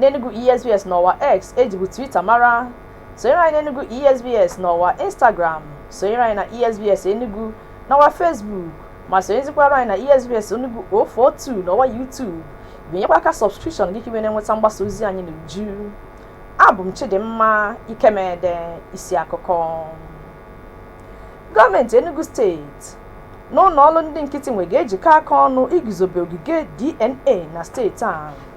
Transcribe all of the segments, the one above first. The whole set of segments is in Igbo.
n'Enugu ESBS n'ọwa X ejibu Twitter mara. Sonyere anyị n'Enugu ESBS n'ọwa Instagram, sonyere anyị na ESBS Enugu n'ọwa Facebook, ma sonyezikwara anyị na ESBS Enugu 042 n'ọwa YouTube. Binyekwa aka subscription gị ka i wee na-enweta mgbasa ozi anyị n'uju. Abụ m Chidimma Ikemede, isi akụkọ. Gọọmenti Enugu steeti na ụlọ ọlụ ndị nkịtị nwe ga-ejikọ aka ọnụ iguzobe ogige DNA na steeti a.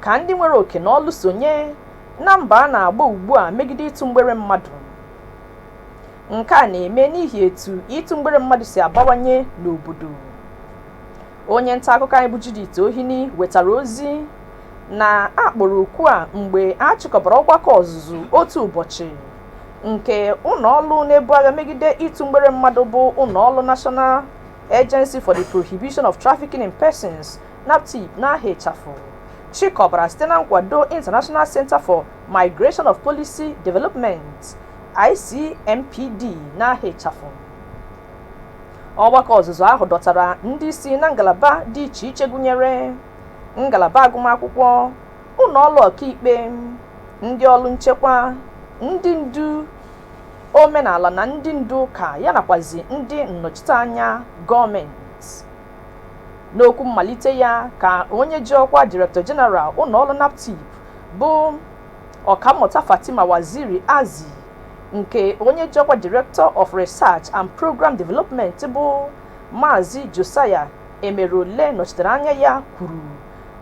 ka ndị nwere oke na ọlụ sonye na mbọ a na-agba ugbu a megide ịtụ mgbere mmadụ nke a na-eme n'ihi etu ịtụ mgbere mmadụ si abawanye n'obodo onye nta akụkọ anyị bụ Judith Ohini wetara ozi na a kpọrọ oku a mgbe a chịkọbara ọgbakọ ọzụzụ otu ụbọchị nke ụlọọlụ na-ebu agha megide ịtụ mgbere mmadụ bụ ụlọọlụ National Agency for the Prohibition of Trafficking in Persons NAPTIP n'aha ịchafụ chịkọbara site na nkwado International Center for Migration of Policy Development ICMPD n'aha ịchafụ ọgbakọ ọzụzụ ahụ dọtara ndị isi na ngalaba dị iche iche gụnyere ngalaba agụmakwụkwọ ụlọ ọlụ ọkaikpe ndị ọrụ nchekwa ndị ndu omenala na ndị ndu ụka ya nakwazi ndị nnọchiteanya gọọmenti N'okwu mmalite ya ka onye ji ọkwa Director General ụlọọlụ NAPTIP bụ Ọkammụta Fatima Waziri Azi nke onye ji ọkwa Director of Research and Programme Development bụ Maazị Josiah Emerole nọchitere anya ya kwuru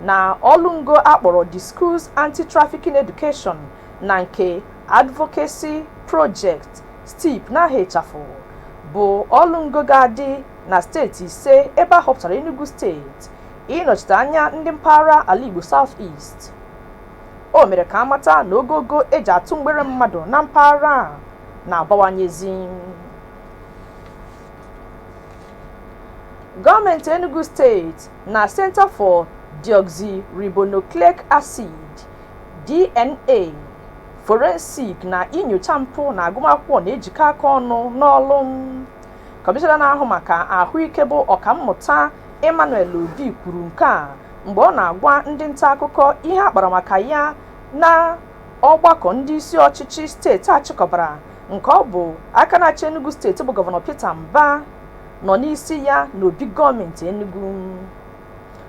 na ọlụ ngo a kpọrọ The Schools Anti-Trafficking Education na nke Advocacy Project, STEAP, n'aha ịchafụ, bụ ọlụ ngo ga-adị na steeti ise ebe a họpụtara Enugu steeti ịnọchite anya ndị mpaghara ala Igbo South East. O mere ka a mata na ogogo e ji atụ mgbere mmadụ na mpaghara a na-abawanyezi. Gọọmenti Enugu steeti na Center for Deoxyribonucleic Acid DNA forensic na inyocha mpụ na agụmakwụkwọ na-ejikọ aka ọnụ n'ọlụ Kọmishọna na-ahụ maka ahụike bụ Ọkammụta Emmanuel Obi kwuru nke a mgbe ọ na-agwa ndị nta akụkọ ihe a kpara maka ya na ọgbakọ ndị isi ọchịchị steeti a chịkọbara nke ọ bụ aka na-achị Enugu steeti bụ gọvanọ Peter Mbah nọ n'isi ya n'obi gọọmenti Enugu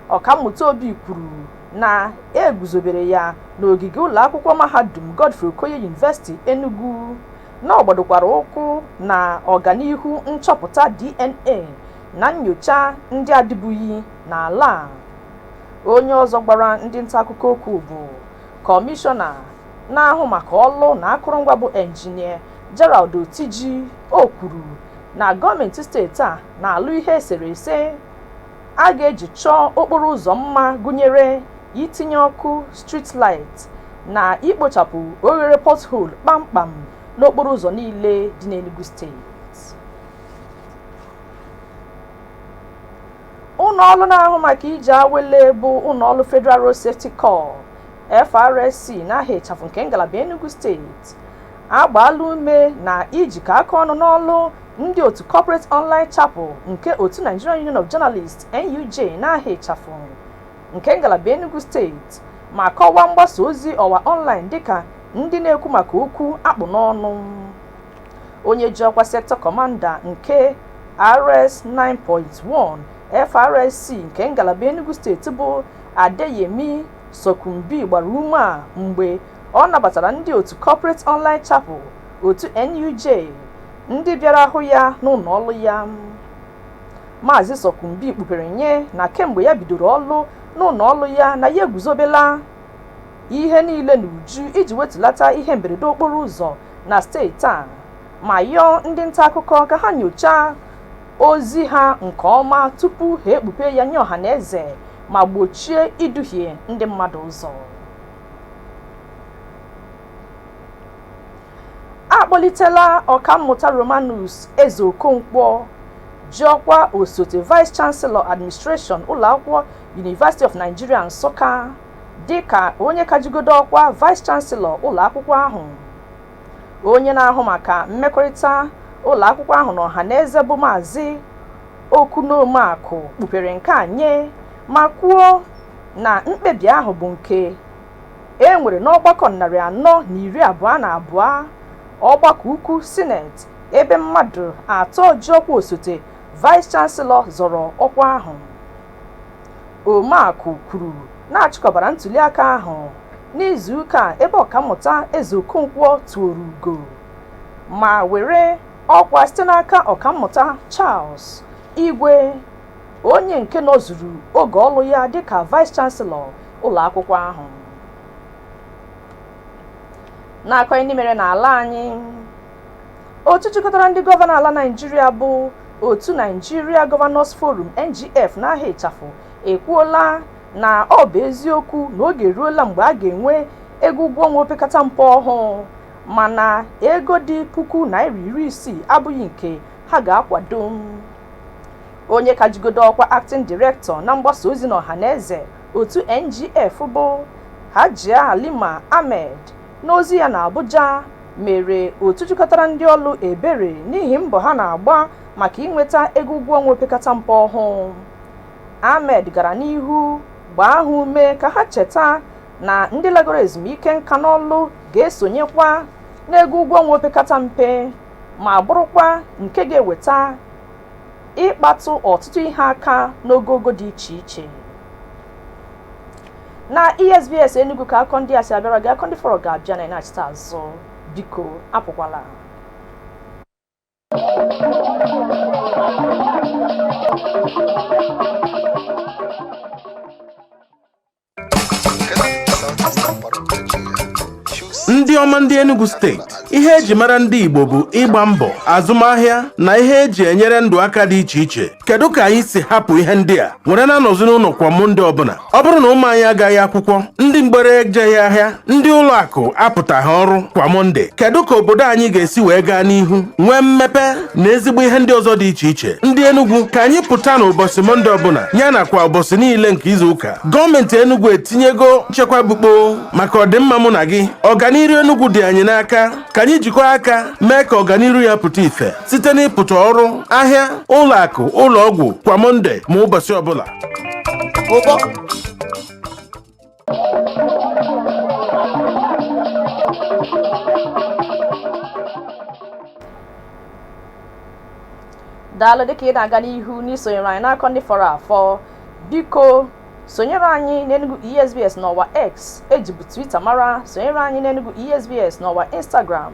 Ọkammụta Obi kwuru na e guzobere ya n'ogige ụlọakwụkwọ mahadum Godfrey Okoye University Enugu na ọ gbadokwara ụkwụ na ọganihu nchọpụta DNA na nnyocha ndị adịbughị n'ala a. Onye ọzọ gbara ndị nta akụkọ okwu bụ Kọmishọna na-ahụ maka ọlụ na akụrụngwa bụ Engineer Gerald Otiji, o kwuru na gọọmentị steeti a na-alụ ihe eserese. a ga-eji chọọ okporo ụzọ mma gụnyere itinye ọkụ street light na ikpochapụ oghere pothole kpamkpam n'okporo ụzọ niile dị n'Enugu steeti. Ụlọ ọrụ na-ahụ maka ije awele bụ ụlọ ọrụ Federal Road Safety Corps, FRSC, n'aha ịchafụ nke ngalaba Enugu steeti agbaala ume na ijikọ aka ọnụ n'ọlụ ndị otu Corporate Online Chapel nke otu Nigeria Union of Journalists, NUJ, n'aha ịchafụ nke ngalaba Enugu steeti ma kọwaa mgbasa ozi ọwa ọnlaịn dịka ndị na-ekwu maka okwu akpụ n'ọnụ. Onye ji ọkwa Sector Commander nke RS 9.1 FRSC nke ngalaba Enugu steeti bụ Adeyemi Sokunbi gbara ume a mgbe ọ nabatara ndị otu Corporate Online Chapel, otu NUJ, ndị bịara hụ ya n'ụlọ ọlụ ya. Maazị Sokunbi kpupere nye na kemgbe ya bidoro ọlụ n'ụlọ ọlụ ya na ya eguzobela ihe niile n'uju iji wetulata ihe mberede okporo ụzọ na steeti a ma yọọ ndị nta akụkọ ka ha nyochaa ozi ha nke ọma tupu ha ekpupe ya nye ọhaneze ma gbochie iduhie ndị mmadụ ụzọ. a kpọlitela ọkammụta romanus ezeokonkwo ji ọkwa osote vice chancellor administration ụlọakwụkwọ university of nigeria nsụka dịka onye ka jigodo ọkwa vice chancellor ụlọakwụkwọ ahụ onye na-ahụ maka mmekọrịta ụlọakwụkwọ ahụ na ọha na eze bụ maazị okwun omeakụ kpupere nke a nye ma kwuo na mkpebi ahụ bụ nke e nwere n'ọgbakọ narị anọ na iri abụọ na abụọ ọgbakọ ukwu sineti ebe mmadụ atọ ji ọkwa osote vice chancellor zọrọ ọkwa ahụ omeakụ kwuru na a chịkọbara ntuliaka ahụ n'izu ụka ebe ọkammụta ezeokonkwo tuoro ugo ma were ọkwa site n'aka ọkammụta charles igwe onye nke nọzuru oge ọlụ ya dịka vice chancellor ụlọ akwụkwọ ahụ n'akọ ndị mere n'ala anyị otu jikọtara ndị gọvanọ ala naịjirịa bụ otu nigeria governors forum ngf n'aha ịchafụ ekwuola na ọ bụ eziokwu na oge eruola mgbe a ga-enwe ego ụgwọ ọnwa opekata mpe ọhụụ mana ego dị puku naira iri isii abụghị nke ha ga-akwado onye ka jigodo ọkwa acting director na mgbasa ozi n'ọhaneze otu NGF bụ Hajia Halima Ahmed n'ozi ya n'Abuja mere otu jikọtara ndị ọlụ ebere n'ihi mbọ ha na-agba maka inweta ego ụgwọ ọnwa opekata mpe ọhụụ. Ahmed gara n'ihu gbaa ha ume ka ha cheta na ndị lagoro ezumike nka n'ọlụ ga-esonyekwa n'ego ụgwọ ọnwa opekata mpe. ma bụrụkwa nke ga-eweta ịkpatụ ọtụtụ ihe aka n'ogogo dị iche iche na esbs enugu ka akọ ndị a si abịara gị akọ ndị fọrọ ga-abịa na ịnachite azụ biko apụkwala ndị ọma ndị Enugu steeti ihe eji mara ndị Igbo bụ ịgba mbọ azụmahịa na ihe eji enyere ndụ aka dị iche iche kedu ka anyị si hapụ ihe ndị a were na-anọzi n'ụlọ kwa Mọnde ọbụla ọ bụrụ na ụmụ anyị agaghị akwụkwọ ndị mgbere ejeghị ahịa ndị ụlọ akụ apụtaghị ọrụ kwa Mọnde kedu ka obodo anyị ga-esi wee gaa n'ihu nwee mmepe na ezigbo ihe ndị ọzọ dị iche iche ndị Enugu ka anyị pụta n'ụbọsị mọnde ọbụla ya nakwa ụbọsị niile nke izu ụka gọọmenti Enugu etinyego nchekwa bukpo maka ọdịmma mụ na gị ọganiru Enugu dị anyị n'aka ka anyị jikọọ aka mee ka ọganiru ya pụta ife site n'ịpụta ọrụ ahịa ụlọ akụ ụlọ ọgwụ kwa mọnde ma ụbọsị ọbụla daalụ dịka ị na-aga n'ihu n'isonyere anyị n'akọ ndị fọrọ afọ biko sonyere anyị n'enugu esbs n'ọwa x ejibu twitter mara sonyere anyị n'enugu esbs n'ọwa instagram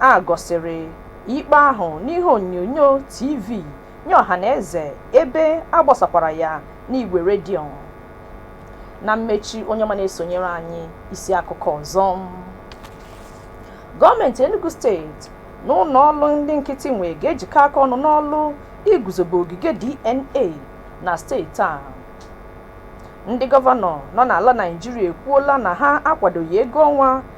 A gosiri ikpe ahụ n'ihe onyonyo TV nye ọhanaeze ebe a gbasakwara ya n'igwe redio. Na mmechi onye ọma na-esonyere anyị isi akụkọ ọzọ. Gọọmenti Enugu steeti na ụlọ ọlụ ndị nkịtị nwe ga-ejikọ aka ọnụ n'ọlụ iguzobe ogige DNA na steeti a. Ndị gọvanọ nọ n'ala Naịjirịa ekwuola na ha akwadoghị ego ọnwa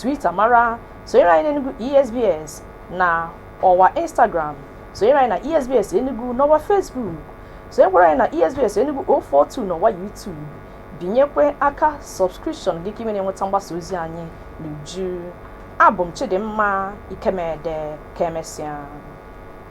Twitter mara sonyere anyị n'Enugu ESBS na ọwa Instagram sonyere anyị na ESBS Enugu n'ọwa Facebook sonyekwara anyị na ESBS Enugu 042 n'ọwa YouTube binyekwe aka subscription gị ka i wee na-enweta mgbasa ozi anyị n'uju abụ m Chidimma Ikemede ka emesịa